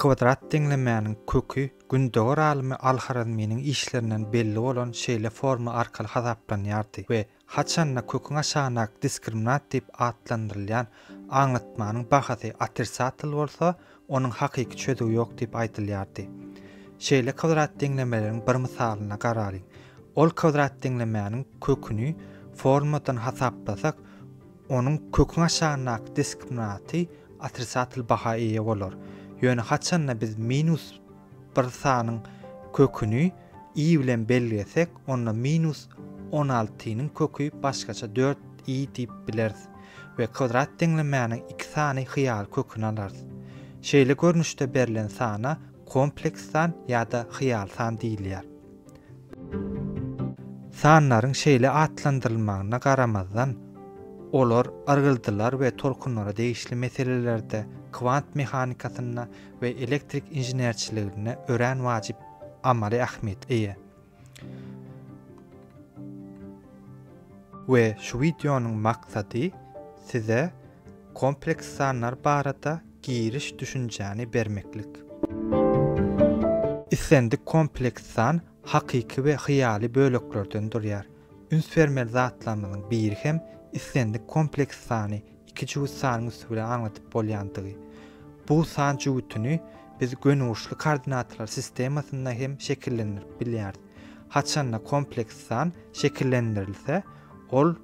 Kwadrat deňlemäniň köki gündogar alymy al-Harazminiň işlerinden belli bolan şeýle forma arkaly hasaplanýardy we haçan-da köküň aşagyndaky diskriminant diýip atlandyrylýan aňlatmanyň bahasy otrisatel bolsa, onuň hakyky çözüwi ýok diýip aýdylýardy. Şeýle kwadrat deňlemeleriň bir mysalyna garalyň. Ol kwadrat deňlemäniň köküni formadan hasaplasak, Onuň köküň aşagyndaky diskriminaty otrisatel baha eýe bolar. Ýöne haçanda biz minus bir sanyň köküni i bilen belgesek, onda minus on altynyň köki başgaça dört i diýip bileris we kwdrat deňlemäniň iki sany hyýaly köküni alarys. Şeýle görnüşde berlen sana kompleks san ýa-da hyýaly san diýilýär. Sanlaryň şeýle atlandyrylmagyna garamazdan, olar yrgyldylar we tolkunlara degişli meselelerde, kwant mehanikasynda we elektrik inženerçiliginde örän wajyp amaly ähmiýete eýe. We şu wideonyň maksady size kompleks sanlar barada Giriş düşünjäni bermeklik. Islendik kompleks san hakyky we hyýaly böleklerden durýar. Üns bermeli zatlarymyzyň biri hem islendik kompleks sany iki jübüt sanyň üsti bilen aňladyp bolýandygy. Bu san jübütini biz gönüburçly koordinatalar sistemasynda hem şekillendirip bilýäris. Haçanda kompleks san şekillendirilse, Ol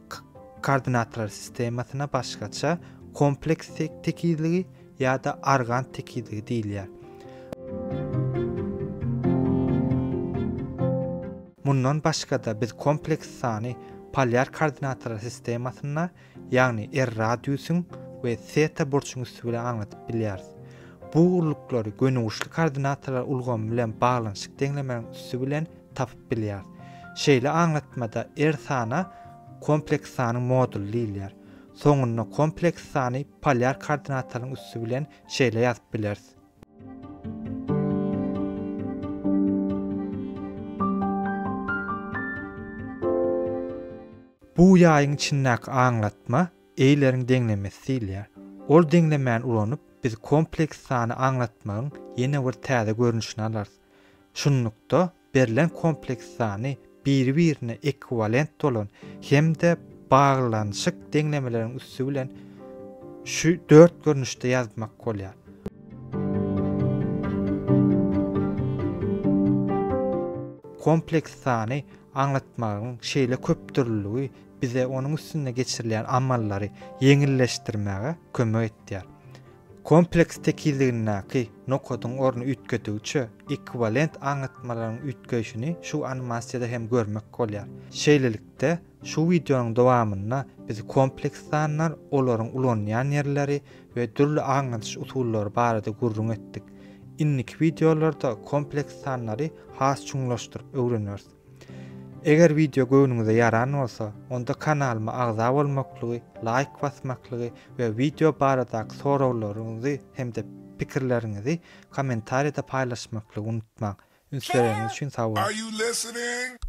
koordinatorlar sistemasyna başgaça kompleks tekizligi ýa-da argand tekizligi diýilýär. Mundan başga-da biz kompleks sany polýar koordinatorlar sistemasynda, ýagny R radiusyň we seta burçuň üsti bilen aňladyp bilýäris. Bu ugurlyklary gönüguşly koordinatorlar ulgamy bilen baglanyşyk deňlemäniň üsti bilen tapyp bilýär. Şeýle aňlatmada er sana kompleks sanyň moduly diýilýär. Soňunda kompleks sany polýar koordinatalyň üsti bilen şeýle ýazyp bileris. Bu ýaýyň içindäki aňlatma Eýleriň deňlemesi diýilýär. Ol deňlemäni ulanyp, biz kompleks sany aňlatmagyň ýene bir täze görnüşini alarys. Şunlukda, berlen kompleks sany biri-birine ekwiwalent bolan hem-de baglanyşyk deňlemeleriň üsti bilen şu dört görnüşde ýazmak bolýar. Kompleks sany aňlatmagyň şeýle köpdürlüligi bize onuň üstünde geçirilýän amallary ýeňilleşdirmäge kömek edýär. Kompleks tekizligindäki nokadyň orny üýtgedigiçe, ekwiwalent aňlatmalaryň üýtgeýşini şu animasiýada hem görmek bolýar. Şeýlelikde, şu wideonyň dowamynda biz kompleks sanlar, olaryň ulanylýan ýerleri we dürli aňladyş usullary barada gürrüň etdik. Indiki wideolarda kompleks sanlary has çuňlaşdyryp öwreneris. Eger wideo göwnüňize ýaran bolsa, onda kanalyma agza bolmaklygy, laýk basmaklygy we wideo baradaky soraglaryňyzy hem-de pikirleriňizi kommentariýada paýlaşmaklygy unutmaň. Üns bereniňiz üçin sag boluň!